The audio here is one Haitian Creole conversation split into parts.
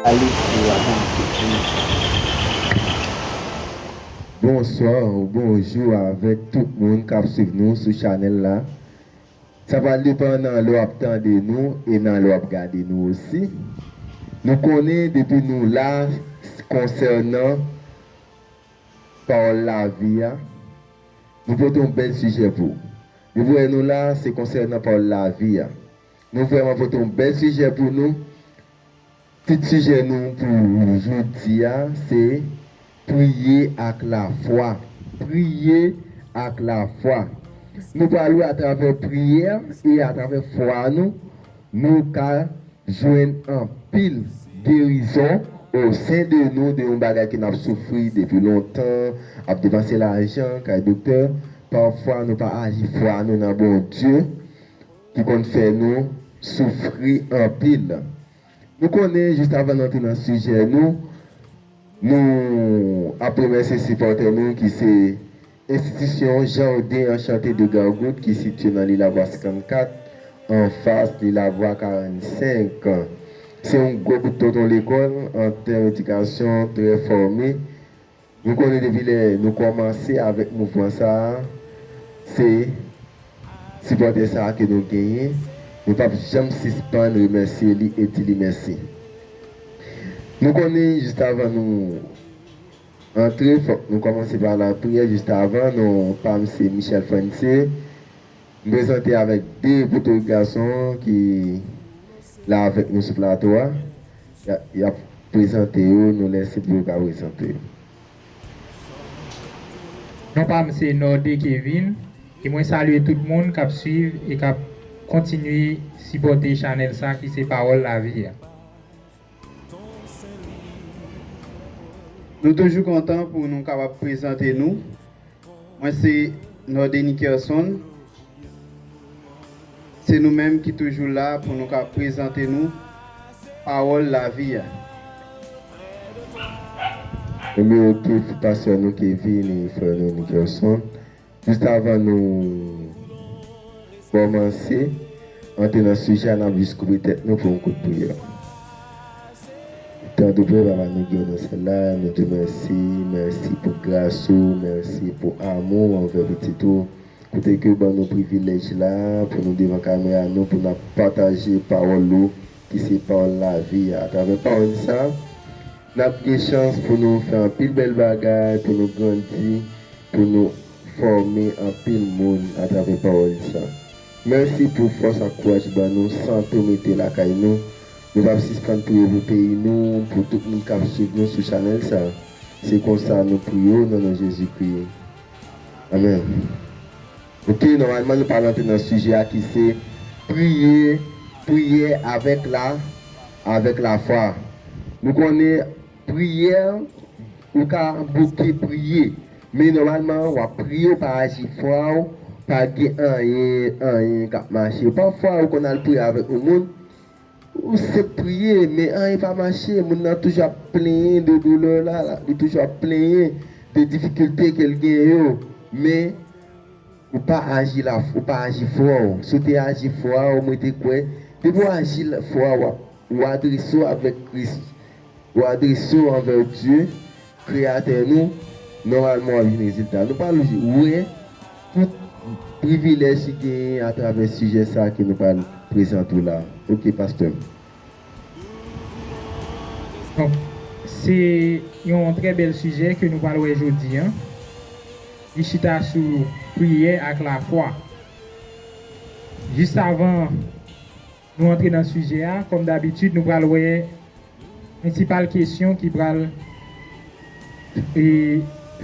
Alix ou avan m tout wi. Bonsoir ou bonjou avèk tout moun kap swiv nou sou chanèl la sa pral depan nan lè wap tande nou e nan lè wap gade nou osi nou konnen depi nou la konsènan pawòl lavi a nou pote yon bèl sijè pou Depi wè nou la se konsènan pawòl lavi a. Nou vrèman pote yon bèl sijè pou nou. Tit sijè nou pou jodi a se, Priye ak lafwa. Priye ak lafwa. Nou pral wè atravè priyè e atravè fwa nou Nou ka jwenn anpil gerizon o sen de nou de yon bagay ke nap soufri depi lontan, ap depanse lajan kay doktè, pafwa nou pa aji fwa nou nan Bondye ki konn fè nou soufri anpil. Nou konnen jis avan n antre nan sijè nou, Nou ap remèsye sipòtè nou ki se Enstitisyon Jardin Enchanté de Gargoud ki sitye nan Lilavwa 54, anfas Lilavwa 45. Se yon gwo bout tonton lekòl an tèm edikasyon, trè fòme. Nou konnen depi lè nou kòmanse avèk mouvman sa a, se. Sipòtè sa a ke nou genyen, nou pap janm sispann remèsye li e di li mèsi. Nou konnen jistavan nou antre fòk nou kòmanse pa lapriyè, jistavan, non pam se Michel Frantze, m prezante avèk 2 potorik gason ki la avèk nou sou plato a, yap prezante yo nou lèse pou yo ka prezante yo. Non pam se Norde Kevin e mwen salye tout moun kap swiv e kap kontinye sipòte chanèl sa ki se pawòl lavi a. Nou toujou kontan pou nou kapab prezante nou. Mwen se Nordenie Kerson. Se nou menm ki toujou la pou nou ka prezante nou pawòl lavi a. Nou merite pou pastè nou te vini frè nou Nikerson. Jis avan nou kòmanse antre nan sijè a nap jis koupe tèt nou pou yon kout priyè. Tande vre papa nou gen nou sèl la nou diw mèsi mèsi pou gras ou mèsi pou amou ou anvè pitit ou kote kew ban nou privilèj la pou nou devan kamera nou pou nap pataje pawòl ou ki se pawòl lavi a atravè pawòl sa nap gen chans pou nou fè anpil bèl bagay pou nou grandi pou nou fòme anpil moun atravè pawòl sa. Mèsi pou fòs ak kouraj ban nou san tou mete lakay nou. Nou pap sispann priye pou peyi nou, pou tout moun kap swiv nou sou chanèl sa. Se konsa nou priye w nan non Jezikri. Amen. Ok nòmalman nou pral antre nan sijè a ki se priye priyè avèk la avèk lafwa. Nou konnen. Priyè Ou ka bouke priye, men nòmalman w ap priye w pa aji fwa w pa gen anyen anyen k ap mache. Pafwa ou konn al priye avèk yon moun, ou senp priye men anyen pa mache, moun nan toujou ap plenyen de doulè l, li toujou ap plenyen de difikilte ke l gen yo, men ou pa aji la ou pa aji fwa w. Si w te aji fwa w mwen te kwè depi w aji fwa w, ou adrese w avèk Kris. Ou adrese w anvè Dye, Kreyatè nou, nòmalman w ap jwenn rezilta. Nou pral wè tout privilèj ki genyen atravè sijè sa ke nou pral prezante w la. Ok pastè m. Donk, se yon trè bèl sijè ke nou pral wè jodi an. Li chita sou priyè ak lafwa. Jis avan Nou antre nan sijè a, kòm dabitid nou pral wè prensipal kesyon ki pral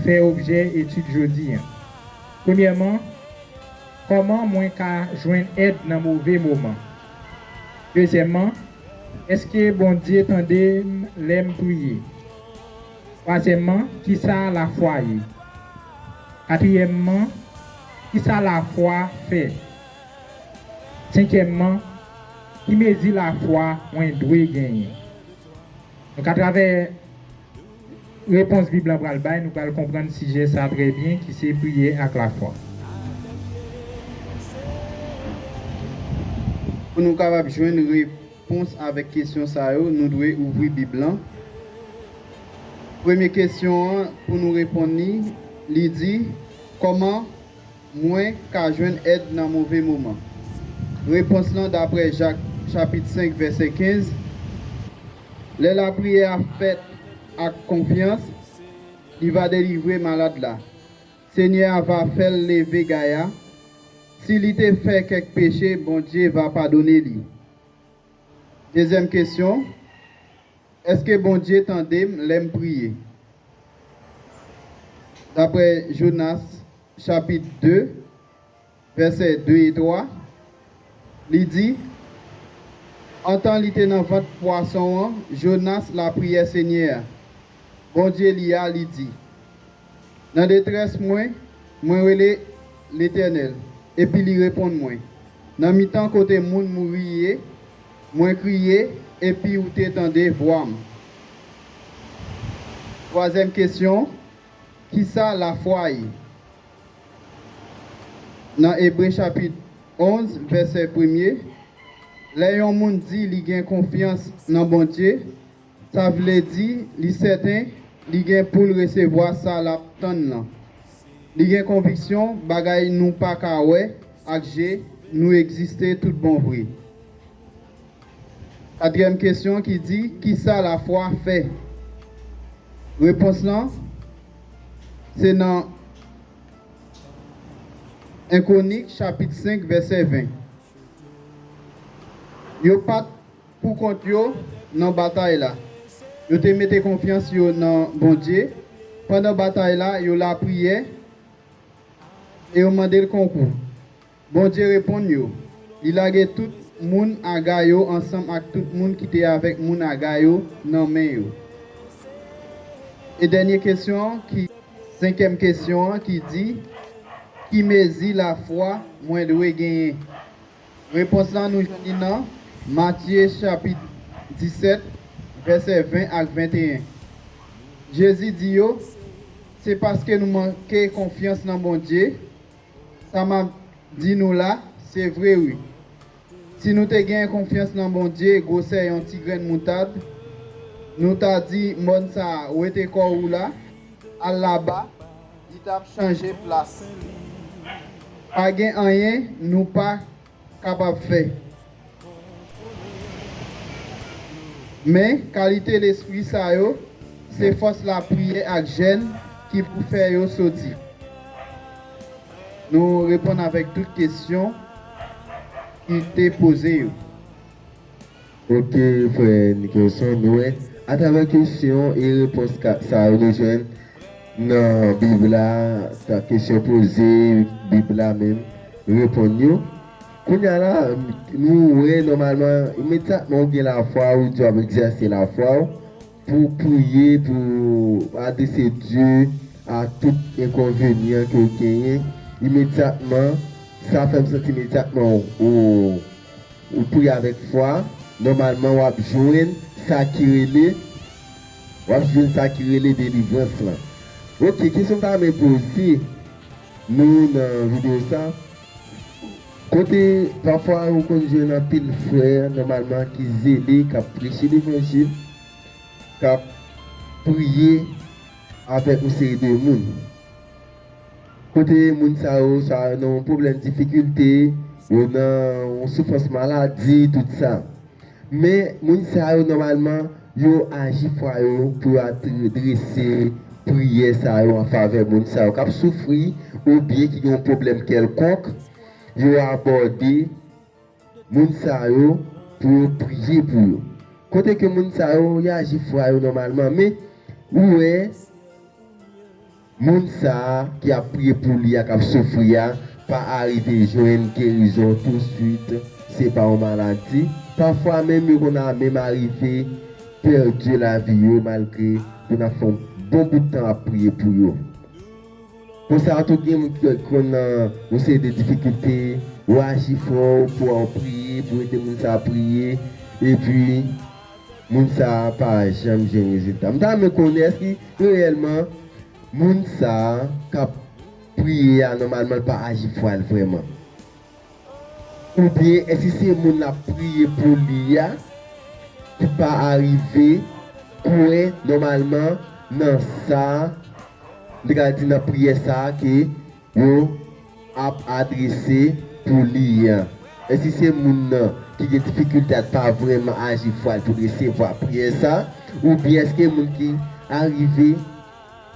fè objè etid jodi a. Premyèman, kòman mwen ka jwenn èd nan move moman? Dezyèmman, èske Bondye tande m lè m priye? Twazyèmman, kisa lafwa ye? Katriyèmman, kisa lafwa fè? Senkyèmman, ki mezi lafwa mwen dwe genyen? Donk, atravè repons Bib la pral bay, nou pral konprann sijè sa a trè byen ki se priyè ak lafwa. Pou nou kapab jwenn repons avèk kesyon sa yo, nou dwe ouvri Bib la. Premye kesyon an, pou nou reponn li, li di, Kòman. Mwen ka jwenn èd nan move moman. Repons lan daprè Jak chapit 5 vèsè 15, Lè lapriyè a fèt ak konfyans, li va delivre malad la. Senyè a va fè l leve gay a. Si li te fè kèk peche, Bondye va padone li. Dezyèm kesyon, Èske Bondye tande m lè m priye? Daprè Jonas chapit 2, vèsè 2 e 3, li di, Antan li te nan vant pwason an, Jonas lapriyè Senyè a, Bondye li a, li di, Nan detrès mwen, mwen rele Letènèl, epi li reponn mwen. Nan mitan kote moun mouri ye, mwen kriye, epi ou te tande vwa m. Twazyèm kesyon. Kisa lafwa ye? Nan Ebre chapit 11 vèsè premye, lè yon moun di li gen konfyans nan Bondye, sa vle di li sèten li gen pou l resevwa sa l ap tann lan. Li gen konviksyon bagay nou pa ka wè ak je nou egziste toutbonvre. Katriyèm kesyon ki di, Kisa lafwa fè? Repons lan se nan 1 Kwonik chapit 5 vèsè 20. Yo pa t poukont yo nan batay la. Yo te mete konfyans yo nan Bondye. Pandan batay la, yo lapriyè e yo mande l konkou. Bondye reponn yo, li lage tout moun Aga yo ansanm ak tout moun ki te avèk moun Aga yo nan men yo. E dènye kesyon an ki. Senkyèm kesyon an ki di, Ki mezi lafwa mwen dwe genyen? Repons la nou jwenn li nan Matye chapit 17, vèsè 20 ak 21. Jezi di yo, Se paske nou manke konfyans nan Bondye Sa map Di nou la se vre wi si nou te gen konfyans nan Bondye gwosè yon ti grenn moutad nou ta Di mòn sa wete kò ou la al laba li tap chanje plas pa gen anyen nou pa kapab fè. Men, kalite lespri sa yo, se fòs lapriyè ak jèn ki pou fè yo soti. Nou reponn avèk tout kesyon ki te poze yo. Kote frè Nicholson nou ye? Atravè kesyon e repons sa yo nou jwenn nan Bib la, sa kesyon poze, Bib la menm reponn yo. Kounye a la, nou wè nòmalman, imedyatman ou gen lafwa, ou di w ap egzèse lafwa ou, Pou priye pou ou adrese Dye a tout enkonvenyan ke ou genyen imedyatman, sa fèm santi imedyatman ou ou priye avèk fwa, nòmalman wap jwenn sa ki rele wap jwenn sa ki rele delivrans lan. Ok kesyon m ta renmen poze nou nan video sa. Kote, pafwa ou konn jwenn anpil frè nòmalman ki zele, k ap preche levanjil, k ap priye avèk yon seri de moun. Kote, moun sa yo, swa yo nan yon pwoblèm difikilte, yo nan yon soufrans maladi, tout sa. Men, moun sa yo nòmalman yo aji fwa yo pou yo adrese priyè sa yo an favè moun sa yo k ap soufri oubyen ki gen yon pwoblèm kèlkonk. Yo abòde moun sa yo pou yo priye pou yo. Kote ke moun sa yo, yo aji fwa yo nòmalman. Men, ou wè. Moun sa a ki ap priye pou li a k ap soufri a pa arive jwenn gerizon tousuit, se pa yon maladi. Pafwa menm yo konn a menm arive pèdi lavi yo malgre yo nan fè yon bon bout tan ap priye pou yo. Konsa tou gen moun ki konn nan yon seri de difikilte, ou aji fò pou a ou priye, pou ede moun sa a priye, epi. Moun sa a pa janm jwenn rezilta. M ta renmen konnen èske reyèlman moun sa a k ap priye a nòmalman l pa aji fwa l vrèman? Oubyen èske se moun l ap priye pou li a ki pa arive kwè nòmalman nan sa a, m te ka di nan priyè sa a ke Yo ap adrese pou li an. E si se moun nan ki gen difikilte a t pa vrèman aji fwa l pou l resevwa priyè sa a? Oubyen èske moun ki arive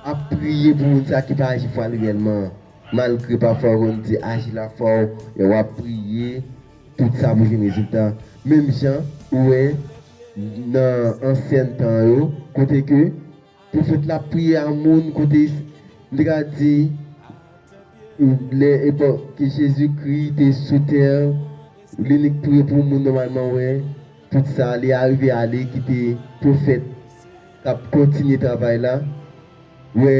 ap priye pou moun sa a ki pa aji fwa l reyèlman an? Malgre pafwa yo konn di aji lafwa w lè w ap priye, tout sa pou jwenn rezilta. Menm jan ou wè nan ansyen tan yo, kote ke. Pwofèt la ap priye a moun kote li ka di lè epòk ke Jezi Kri te sou tè an li nik priye pou moun nòmalman wè tout sa li arive ale kite pwofèt k ap kontinye travay la wè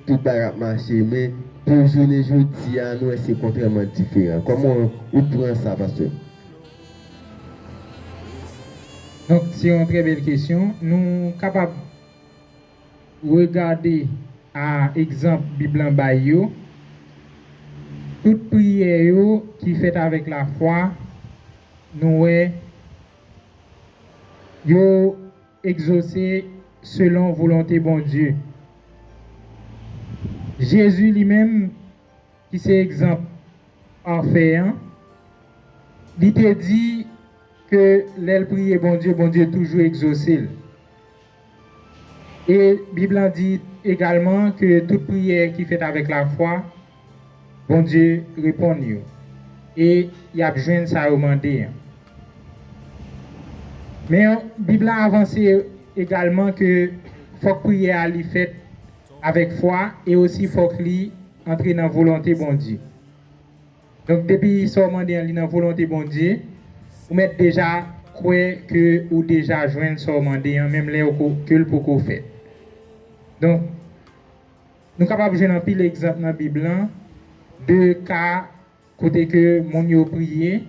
tout bagay ap mache men pou jounen jodi a nou wè se kontrèman diferan kòman ou pran sa pastè? Donk se yon trè bèl kesyon nou kapab. Regade a egzanp Bib lan bay yo, tout priyè yo ki fèt avèk lafwa, nou wè, yo egzose selon volonte Bondye. Jezi li menm. ki se egzanp pafè an, li te di ke lè l priye Bondye, Bondye toujou egzose l. E Bib lan di egalman ke tout priyè ki fèt avèk lafwa, Bondye reponn yo e y ap jwenn sa yo mande an. Men, Bib la avanse egalman ke fòk priyè a li fèt avèk fwa e osi fòk li antre nan volonte Bondye. Donk depi sa w mande an li nan volonte Bondye, ou mèt deja kwè ke ou deja jwenn sa w mande an menm lè ke l poko fèt. Donk, nou kapab jwenn anpil egzanp nan Bib lan de ka Kote ke moun yo priye,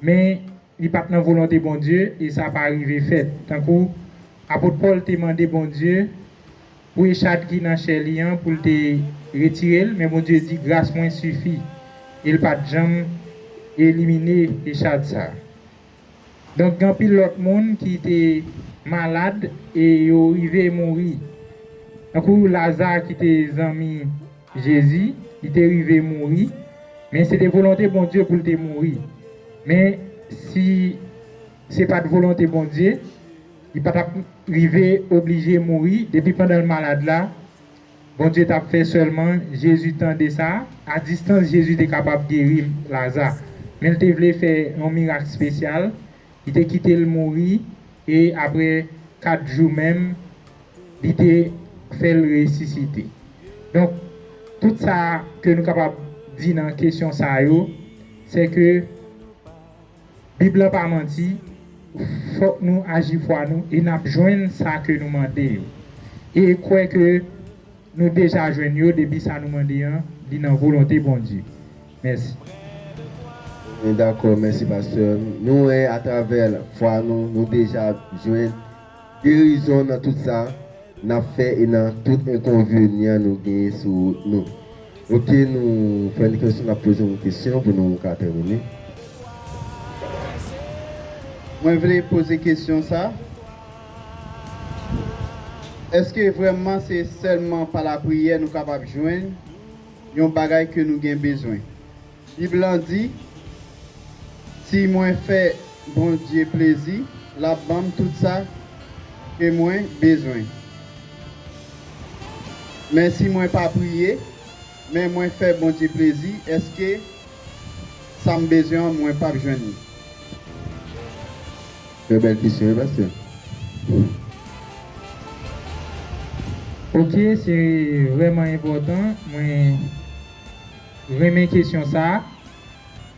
men li pa t nan volonte Bondye e sa pa rive fèt. Tankou Apot Pòl te mande Bondye pou echad ki nan chè li an pou l te retire l, men Bondye di, Gras mwen sifi. E l pa t janm elimine echad sa a. Donk gen anpil lòt moun ki te malad e yo rive mouri. Tankou Laza ki te zanmi Jezi, li te rive mouri, men se te volonte Bondye pou l te mouri. Men, si se pa t volonte Bondye, li pa t ap rive oblije mouri depi pandan l malad la. Bondye tap fè sèlman Jezi tande sa, a distans Jezi te kapab geri Laza, men l te vle fè yon mirak spesyal, li te kite l mouri e aprè 4 jou menm li te fè l resisite. Donk tout sa ke nou kapab di nan kesyon sa yo, sè ke. Bib lan pa manti, fòk nou aji fwa nou e nap jwenn sa ke nou mande yo. E kwè ke nou deja jwenn yo depi sa nou mande an li nan volonte Bondye. Mèsi. Mwen dakò, mèsi pastè. Nou wè atravè fwa nou, nou deja jwenn. Gerizon nan tout sa nap fè e nan tout enkonvenyan nou genyen sou wout nou ok nou fè n kesyon nap poze yon kesyon pou nou ka tèmine. Mwen vle poze kesyon sa eske vrèman se sèlman pa lapriyè nou kapab jwenn yon bagay ke nou gen bezwen Bib lan di, Si mwen fè Bondye plezi, l ap ban m tout sa ke mwen bezwen. Men si mwen pa priye, men mwen fè Bondye plezi, èske sa m bezwen an mwen pap jwenn li? Trè bèl kesyon wi pastè. Ok se vreman enpotan mwen. Renmen kesyon sa a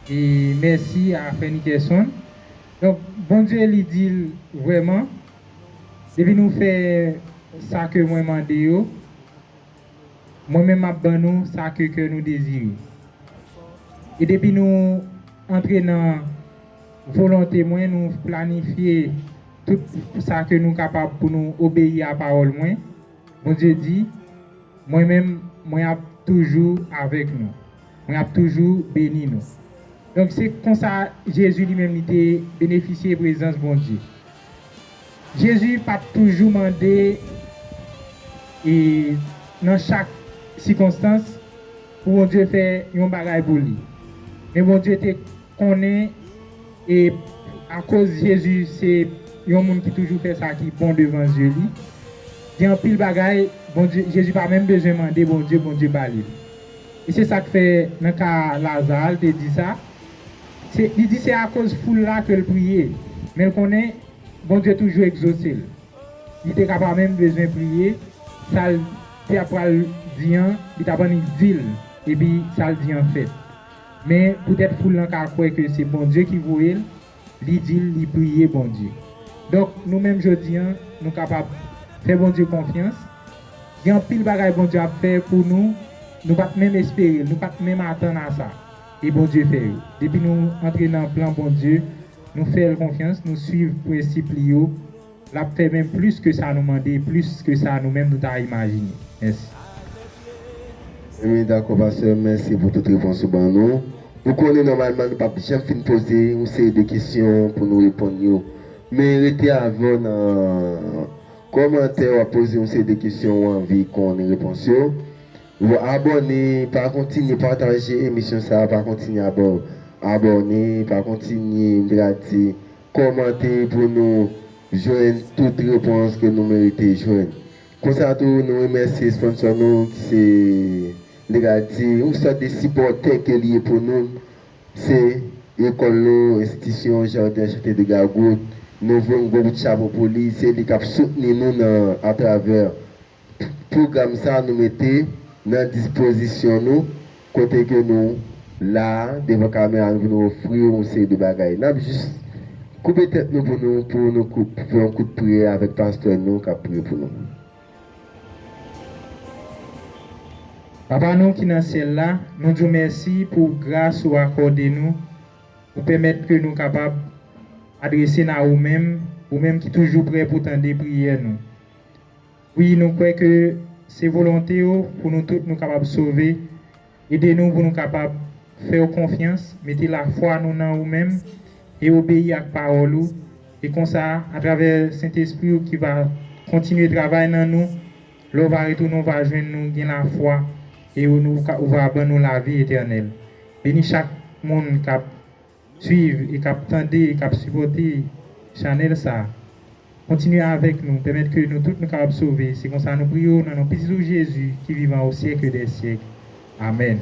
e mèsi a frè Nickerson. Donk Bondye li di l vrèman depi nou fè sa ke mwen mande yo mwen menm map ban nou sa ke kè nou dezire. E depi nou antre nan volonte mwen nou planifye tout sa ke nou kapab pou nou obeyi a pawòl mwen Bondye di, Mwen menm, mwen ap toujou avèk nou. Mwen ap toujou beni nou. Donk, se konsa Jezi li menm li te benefisye prezans Bondye. Jezi pa t toujou mande e nan chak sikonstans pou Bondye fè yon bagay pou li. Men Bondye te. konnen e akoz Jezi se yon moun ki toujou fè sa ki bon devan zye li, gen anpil bagay Bondye, Jezi pa menm bezwen mande Bondye, Bondye ba li l. E se sa k fè nan ka Laza a, l te di sa, se, li di se akoz foul la ke l priye, men l konnen Bondye toujou egzose l. Li te ka pa menm bezwen priye, sa l te ap pral di an, li t ap annik di l, epi sa l di an fèt. Men, poutèt foul lan ka kwè ke se Bondye ki voye l, li di l li priye Bondye. Donk, nou menm jodi a, nou kapab fè Bondye konfyans. Gen anpil bagay Bondye ap fè pou nou, nou pa t menm espere l, nou pa t menm atann a sa, e Bondye fè yo. Depi nou antre nan plan Bondye, nou fè l konfyans, nou suiv prensip li yo, L ap fè menm plis ke sa nou mande, plis ke sa nou menm nou ta imajine. Mèsi. Wi dakò pastè mèsi pou tout repons ou ban nou. Ou konnen nòmalman nou pap janm fin poze yon seri de kesyon pou nou reponn yo. Men rete avè w nan kòmantè wap poze yon seri de kesyon ou anvi konnen repons yo. Ou abòne pa kontinye pataje emisyon sa pa kontinye abòne pa kontinye m te ka di Kòmante pou nou jwenn tout repons ke nou merite jwenn. Konsa tou, nou remèsye sponsò nou ki se, m te ka di, yon sòt de sipòtè ke li ye pou nou, se Ecole lo, Institution Jardin Chante de Gagout. Nou voye yon gwo kout chapo pou li, se li kap soutni nou nan atravè. Tout pwogram sa nou mete nan dispozisyon nou kote ke nou la devan kamera nou pou nou ofri w yon seri de bagay. N ap jis koupe tèt nou pou nou pou nou fè yon kout priyè avèk pastè nou k ap priye pou nou. Papa nou ki nan syèl la, nou di w mèsi pou gras ou akòde nou pou pèmèt ke nou kapab adrese n a ou menm, ou menm ki toujou prè pou tande priyè nou. Wi nou kwè ke se volonte w pou nou tout nou kapab sove, ede nou pou nou kapab fè w konfyans, mete lafwa nou nan ou menm e obeyi ak pawòl ou, e konsa atravè Sentespri w ki va kontinye travay nan nou, lè w va retounen w va jwenn nou gen lafwa e ou va ban nou lavi etènèl. Beni chak moun kap. swiv e k ap tande e k ap sipòte chanèl sa kontinye avèk nou pèmèt ke nou tout nou kapab sove se konsa nou priye w nan non pitit ou Jezi ki vivan o syèkle dè syèkle amèn.